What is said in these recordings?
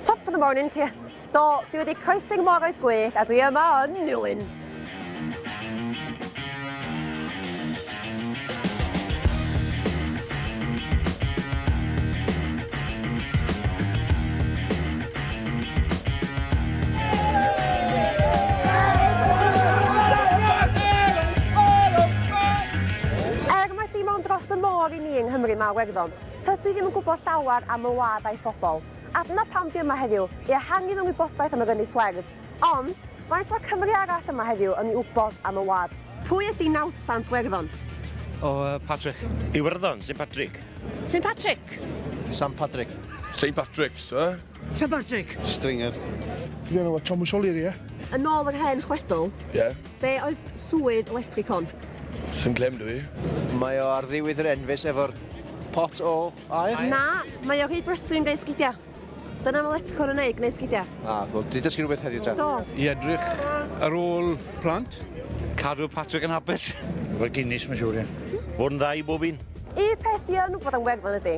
Top of the morning to you. Do, dwi wedi croesi moroedd gwell a dwi yma yn Nilyn. Er mae dim ond dros y môr i ni yng Nghymru mae Werddon, Tydw i ddim yn gwybod llawer am fy wlad a'i phobl, a dyna pam dwi yma heddiw, i ehangu fy ngwybodaeth am yr Ynys Werdd. Ond, faint mae Cymry arall yma heddiw yn ei wybod am y wlad? Pwy ydi Nawdd Sant Werddon? O, Patrick. Iwerddon, Saint Patrick. Saint Patrick! Sant Patrick. Saint Patrick, sir. St Patrick. Stringer. Dwi enw fo Thomas O'Leary, ie? Yn ôl yr hen chwedl, Ie? be oedd swydd lepricon? Swn clem dwi. Mae o ar ddiwyd yr enfys efo'r pot o aer? Na, mae o rhy brysur yn gwneud sgidia. Dyna mae lepricon yn neud, gwneud sgidia. A, wel, di dysgu rhywbeth heddiw ta? Do. I edrych ar ôl plant. Cadw Patrick yn hapus. Fel Guinness mae'n siŵr, ie? Fod yn dda i bob un. Y peth dwi yn wybod am Werddon ydy,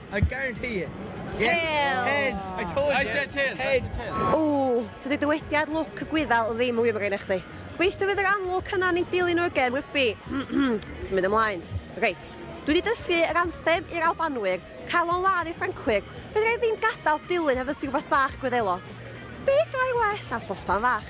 I guarantee it. Yeah. Tails. Heads. I told you. I said tails. Heads. Ooh, tydi dywediad look y gwyddal ddim yn wir gen i chdi. Gobeithio fydd yr amlwg hynna ni dilyn nhw again, Rygbi. Ti'n mynd ymlaen. Reit. Dwi wedi dysgu yr anthem i'r Albanwyr, cael o'n lan i'r Ffrancwyr. Bydd rhaid ddim gadael dilyn heb ddysgu rhywbeth bach gwyddelod. Be gael well na sospan fach?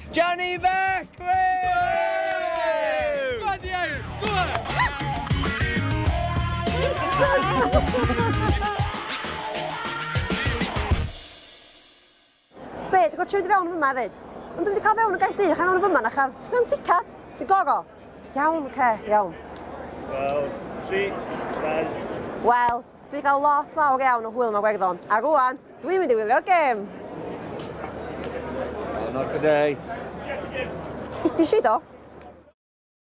Johnny Mac! Be, dwi'n gorfod siarad i fewn yn fyma hefyd. Ond dwi'n wedi cael fewn yn gael dych, a fewn yn fyma na chael. Dwi'n ticad, dwi'n goro. Iawn, oce, iawn. Wel, tri, dau. Wel, Dwi cael lot fawr iawn o hwyl mewn Iwerddon, a rwan, dwi'n mynd i wylio'r gêm! Oh, not today. Ydy si do?